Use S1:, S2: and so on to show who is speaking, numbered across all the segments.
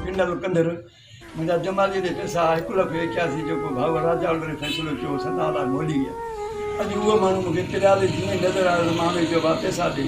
S1: Kindle ڪنڌر، منهنجا جماليء جي پيسا هڪ لک ايڪياسي جو ڪو ڀائو راجا الغري فيصلو ڪيو هو، سدا لاء مولي ويا. اڄ اهو ماڻهو مون کي تريالي جيئن نظر آيو ته مان هن کي چيو، ڀاء پيسا ڏي.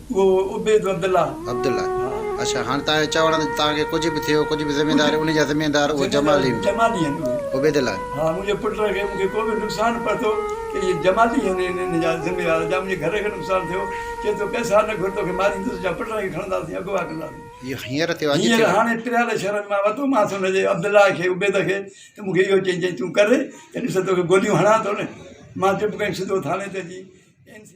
S2: اهو عبيد
S1: عبدالله. عبدالله، اڇا
S2: هاڻ توهان کي چوڻ ته توهان کي ڪجهه به ٿيو، ڪجهه به ذميداري ان جا ذميدار اهي جمالي هوندا. جمالي آهن اهي.
S1: عبيدالله. ها
S2: منهنجي پٽ
S1: کي مون کي ڪو به نقصان پهتو ته اهي جمالي آهن ان جا ذميوار جا منهنجي گهر کي نقصان ٿيو چي تو پئسا نه گهر توکي ماريندس يا پٽ کي کڻنداسين اغوا ڪنداسين. اهو هينئر ٿيو اڄ ٿيو. هينئر
S2: هاڻي پريال
S1: شهر مان وتومانس ان جي عبدالله کي عبيد کي ته مون کي اهو چئي چئي تون ڪر ته ڏس توکي گوليون هڻان ٿو نه مان چپ ڪري سڌو ٿاڻي تي اچي اين سي.